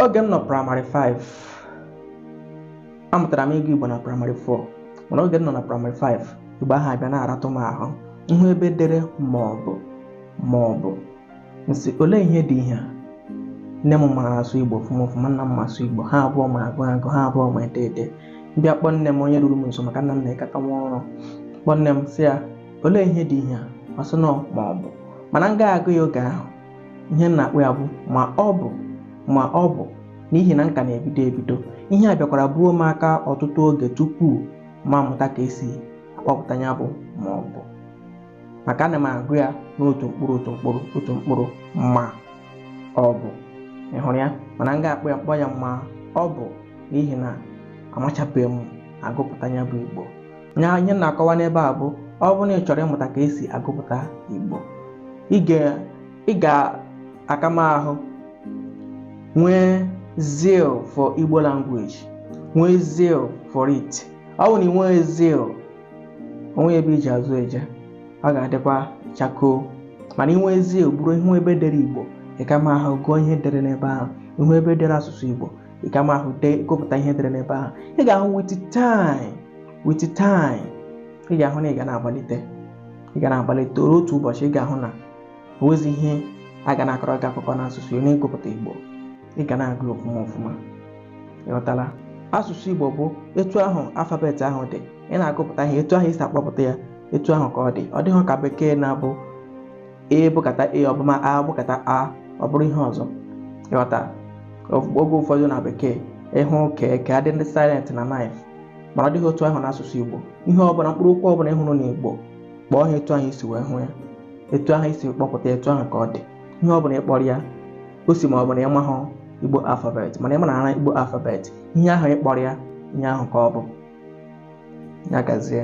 oge m nọ praịmarị 5 amụtara m ịgụ igbo na praịmarị 4 mana oge m nọ na praịmarị 5 igbo ahụ abịa na-aratụ m ahụ m hụ ebe e dere ma ọ bụ ma ọ bụ m sị olee ihe dị ihe a nne m mara asụ igbo ọfụma ọfụma nna m ma asụ igbo ha abụọ ma agụ agụ ha abụọ ma ede ede m bịa kpọọ nne m onye ruru m nso maka nna m na-agakwa ọrụ kpọọ nne m sị ya olee ihe dị ihe a ọ sị na ọ ma ọ bụ mana m ga-agụ ya oge ahụ ihe m na-akpọ ya bụ ma ọ bụ ma ọ bụ n'ihi na m ka na-ebido ebido ihe a bịakwara buo m aka ọtụtụ oge tupu m amụta ka esi akpọpụta ya bụ ma ọ bụ maka ana m agụ ya n'otu mkpụrụ otu mkpụrụ otu mkpụrụ ma ọ bụ ị hụrụ ya mana m ga-akpọ ya kpọọ ya ma ọ bụ n'ihi na amachabeghị m agụpụta ya bụ igbo ihe m na-akọwa n'ebe a bụ ọ bụrụ na ị chọrọ ịmụta ka esi agụpụta Igbo ị ga- ị ga-aka m ahụ nwee zeal for Igbo language nwee zeal for it ọ bụrụ na ị nweghị zeal o nweghị ebe i ji azụ eje ọ ga-adịkwa chakoo mana i nwee zeal ọ bụrụ ị hụ ebe e dere Igbo ị ka ma ahụ gụọ ihe e dere n'ebe ahụ ị hụ ebe e dere asụsụ Igbo ị ga ma ahụ dee gụpụta ihe e dere n'ebe ahụ ị ga-ahụ with time with time ị ga-ahụ na ị ga na-agbalite ị ga na-agbalite ruo otu ụbọchị ị ga-ahụ na o nwezi ihe a ga na-akọrọ gị akụkọ n'asụsụ ya na ịgụpụta Igbo ị ga na-agụ ya ọfụma ọfụma ị ghọtala asụsụ Igbo bụ etu ahụ alfabet ahụ dị ị na-agụpụta ihe etu ahụ i si akpọpụta ya etu ahụ ka ọ dị ọ dịghị ka bekee na-abụ e bụkata e ọ bụ ma a bụkata a ọ bụrụ ihe ọzọ ị ghọta oge ụfọdụ na bekee ị hụ ka k dị silent na knife mana ọ dịghị otu ahụ n'asụsụ igbo ihe ọbụla mkpụrụ okwu ọbụla ị hụrụ n'igbo kpọọ ha etu ahụ i si wee hụ ya etu ahụ i si kpọpụta etu ahụ ka ọ dị ihe ọbụla ị kpọrọ ya ọ sọ ma ọ bụ na ị mahụ igbo alfabet mana ị manara igbo alfabet ihe ahụ ị kpọrọ ya ihe ahụ ka ọ bụ ya gazie